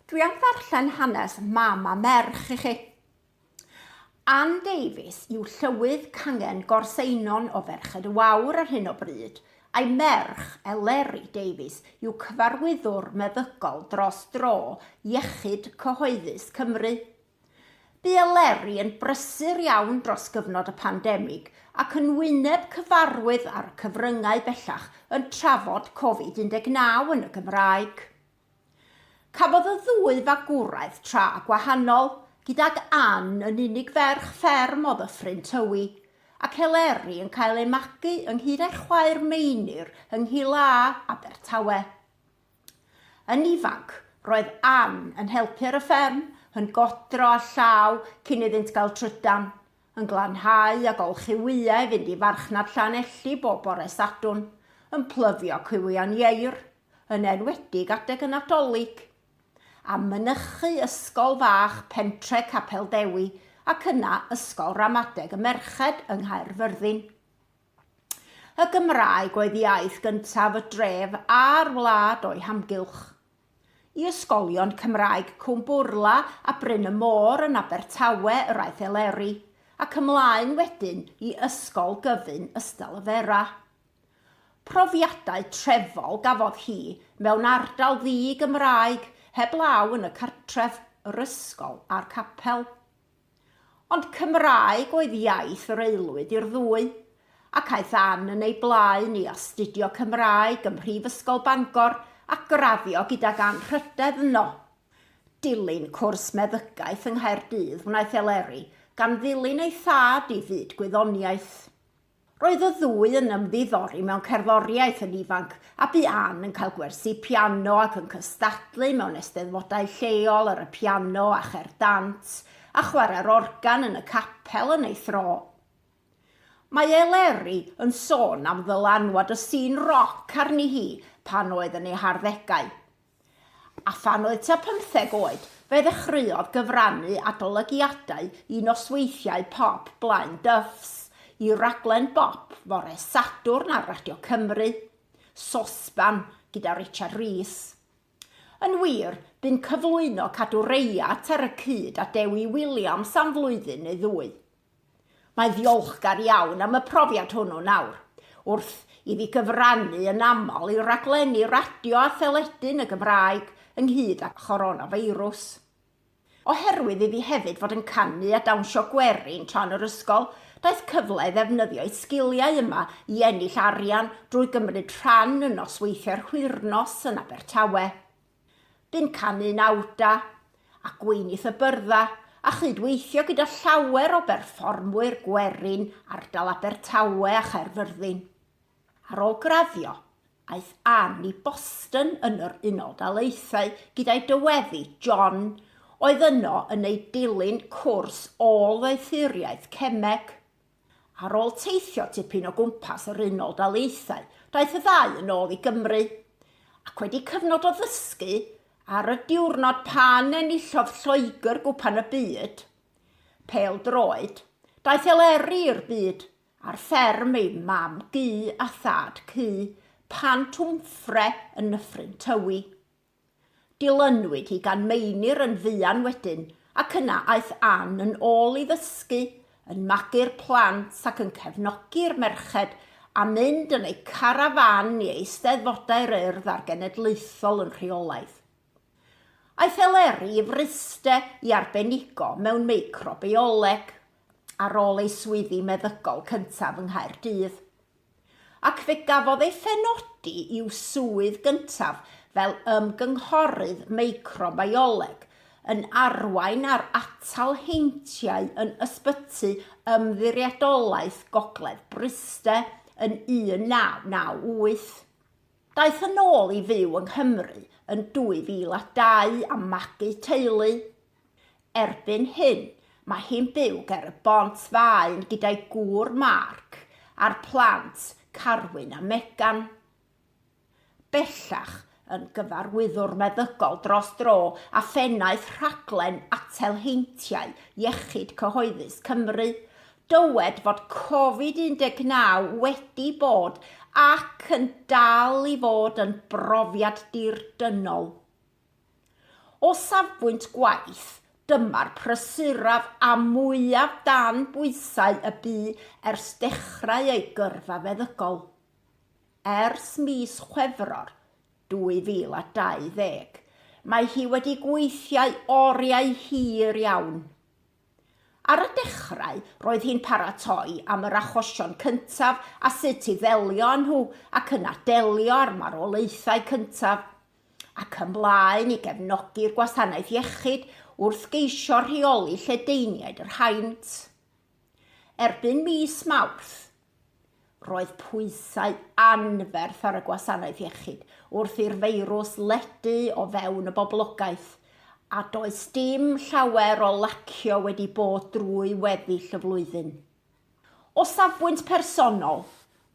Dwi am ddarllen hanes mam a merch i chi. Ann Davies yw llywydd cangen gorseinon o Ferched y Wawr ar hyn o bryd, a'i merch, Eleri Davies, yw cyfarwyddwr meddygol dros dro Iechyd Cyhoeddus Cymru. Bu Eleri yn brysur iawn dros gyfnod y pandemig ac yn wyneb cyfarwydd ar y cyfryngau bellach yn trafod Covid 19 yn y Gymraeg. Cafodd y ddwy fagwraeth tra gwahanol, gydag Ann yn unig ferch fferm o Ddyffryn Tywi, ac Eleri yn cael ei magu ynghyd â'i chwaer Meinir yng Nghil A, Abertawe. Yn ifanc, roedd Ann yn helpu ar y fferm, yn godro â llaw cyn iddynt gael trydan, yn glanhau a golchi wyau i fynd i farchnad Llanelli bob bore Sadwrn, yn plyfio cywion ieir, yn enwedig adeg y Nadolig, a mynychu ysgol fach pentre Capel Dewi ac yna ysgol ramadeg y merched yng Nghaerfyrddin. Y Gymraeg oedd iaith gyntaf y dref a'r wlad o'i hamgylch. I ysgolion Cymraeg Cwm Bwrla a Bryn y Môr yn Abertawe yr aeth Eleri, ac ymlaen wedyn i Ysgol Gyfun Ystalyfera. Profiadau trefol gafodd hi mewn ardal ddi-Gymraeg heblaw yn y cartref, yr ysgol a'r capel. Ond Cymraeg oedd iaith yr aelwyd i'r ddwy, ac aeth Ann yn ei blaen i astudio Cymraeg ym Mhrifysgol Bangor a graddio gydag anrhydedd yno. Dilyn cwrs meddygaeth yng Nghaerdydd wnaeth Eleri, gan ddilyn ei thad i fyd gwyddoniaeth. Roedd y ddwy yn ymddiddori mewn cerddoriaeth yn ifanc, a bu Ann yn cael gwersi piano ac yn cystadlu mewn eisteddfodau lleol ar y piano a chae'r dant, a chwarae'r organ yn y capel yn ei thro. Mae Eleri yn sôn am ddylanwad y sîn roc arni hi pan oedd yn ei harddegau. A phan oedd tua pymtheg oed, fe ddechreuodd gyfrannu adolygiadau i nosweithiau pop Blaen Dyffs, i raglen bop fore Sadwrn ar Radio Cymru, Sosban, gyda Richard Rees. Yn wir, bu'n cyflwyno Cadw Reiat ar y cyd â Dewi Williams am flwyddyn neu ddwy. Mae'n ddiolchgar iawn am y profiad hwnnw nawr. Wrth i fi gyfrannu yn aml i raglenni radio a theledu yn y Gymraeg ynghyd â choronafeirws. Oherwydd i fi hefyd fod yn canu a dawnsio gwerin tra'n yr ysgol, daeth cyfle i ddefnyddio'i sgiliau yma i ennill arian drwy gymryd rhan yn nosweithiau'r Hwyrnos yn Abertawe. Bu'n canu'n awda, a gweinydd y byrddau, a chyd-weithio gyda llawer o berfformwyr gwerin ardal Abertawe a Chaerfyrddin. Ar ôl graddio, aeth Ann i Boston yn yr Unol Daleithiau gyda'i dyweddi, John, oedd yno yn ei dilyn cwrs ôl-ddoethuriaeth cemeg. Ar ôl teithio tipyn o gwmpas yr Unol Daleithiau, daeth y ddau yn ôl i Gymru, ac wedi cyfnod o ddysgu, ar y diwrnod pan enillodd Lloegr Gwpan y Byd, pêl-droed, daeth Eleri i'r byd ar fferm ei mam gu a thad cu, Pant Wmffre yn Nyffryn Tywi. Dilynwyd hi gan Meinir yn fuan wedyn ac yna aeth Ann yn ôl i ddysgu, yn magu'r plant ac yn cefnogi'r merched a mynd yn eu carafán i Eisteddfodau'r Urdd a'r Genedlaethol yn rheolaidd. Aeth Eleri i Fryste i arbenigo mewn meicrobioleg ar ôl ei swyddi meddygol cyntaf yng Nghaerdydd. ac fe gafodd ei phenodi i'w swydd gyntaf fel ymgynghorydd meicrobioleg, yn arwain ar atal heintiau yn Ysbyty Ymddiriedolaeth Gogledd Bryste yn 1998. Daeth yn ôl i fyw yng Nghymru yn 2002 a magu teulu. Erbyn hyn, mae hi'n byw ger y Bont Faen gyda'i gŵr Mark a'r plant Carwyn a Megan. Bellach yn gyfarwyddwr meddygol dros dro a phennaeth rhaglen atal heintiau Iechyd Cyhoeddus Cymru, dywed fod Covid 19 wedi bod ac yn dal i fod yn brofiad dir-dynol. O safbwynt gwaith, dyma'r prysuraf a mwyaf dan bwysau y bu ers dechrau ei gyrfa feddygol. Ers mis Chwefror 2020, mae hi wedi gweithiau oriau hir iawn. Ar y dechrau, roedd hi'n paratoi am yr achosion cyntaf a sut i ddelio â nhw ac yna delio â'r marwolaethau cyntaf. ac ymlaen i gefnogi'r gwasanaeth iechyd wrth geisio rheoli lledaeniaid yr haint. Erbyn mis Mawrth, roedd pwysau anferth ar y gwasanaeth iechyd wrth i'r feirws ledu o fewn y boblogaeth, a does dim llawer o lacio wedi bod drwy weddill y flwyddyn. O safbwynt personol,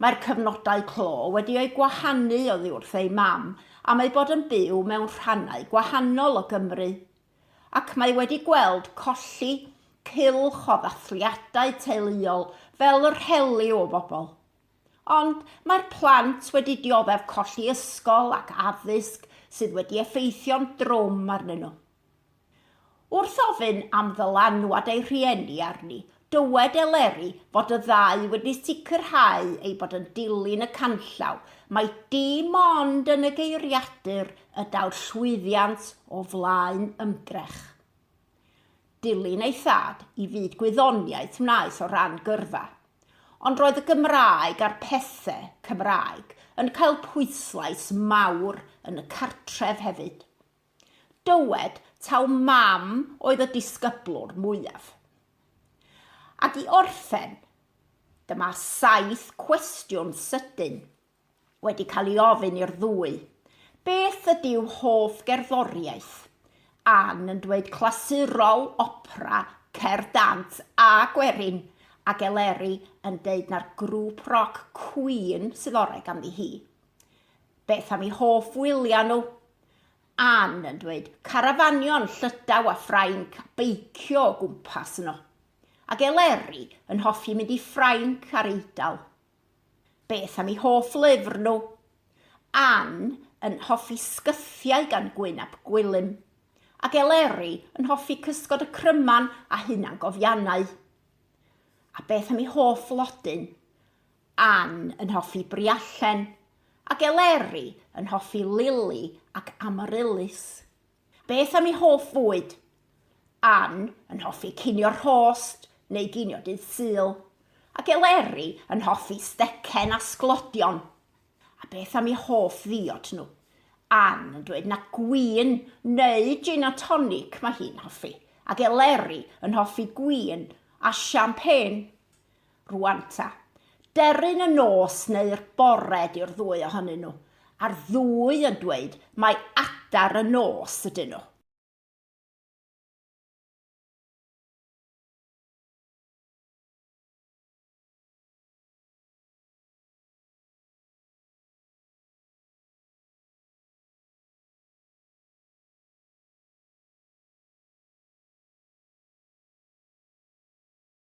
mae'r cyfnodau clo wedi eu gwahanu oddi wrth ei mam am eu bod yn byw mewn rhannau gwahanol o Gymru, ac mae wedi gweld colli cylch o ddathliadau teuluol fel yr heliw o bobl. Ond mae'r plant wedi dioddef colli ysgol ac addysg sydd wedi effeithio'n drwm arnyn nhw. Wrth ofyn am ddylanwad ei rhieni arni, dywed Eleri fod y ddau wedi sicrhau ei bod yn dilyn y canllaw, mai dim ond yn y geiriadur y daw'r llwyddiant o flaen ymdrech. Dilyn ei thad i fyd gwyddoniaeth wnaeth o ran gyrfa, ond roedd y Gymraeg a'r pethe Cymraeg yn cael pwyslais mawr yn y cartref hefyd. Dywed taw mam oedd y disgyblwr mwyaf. Ac i orffen, dyma saith cwestiwn sydyn wedi cael ei ofyn i'r ddwy, beth ydyw hoff gerddoriaeth? Ann yn dweud clasurol, opera, cerdd dant a gwerin, ac Eleri yn deud na'r grŵp roc Queen sydd orau ganddi hi. Beth am i hoff wyliau nhw? Ann yn dweud, carafanion, llydaw a Ffrainc a beicio o gwmpas yno. Ac Eleri yn hoffi mynd i Ffrainc a'r Eidal. Beth am i hoff lyfr nhw? Ann yn hoffi sgythiau gan Gwyn ap Gwilym. Ac Eleri yn hoffi cysgod y cryman a hunangofiannau. A beth am i hoff flodyn? Ann yn hoffi briallen, ac Eleri yn hoffi Lili ac Amaryllis. Beth am ei hoff fwyd? Ann yn hoffi cinio rhost neu ginio dydd Sul, ac Eleri yn hoffi stecen a sglodion. A beth am eu hoff ddiod nhw? Ann yn dweud na gwin neu jin a tonic mae hi'n hoffi, ac Eleri yn hoffi gwin a siampên. Rwanta. Deryn y nos neu'r bore di'r ddwy ohonyn nhw, a'r ddwy yn dweud mai adar y nos ydyn nhw.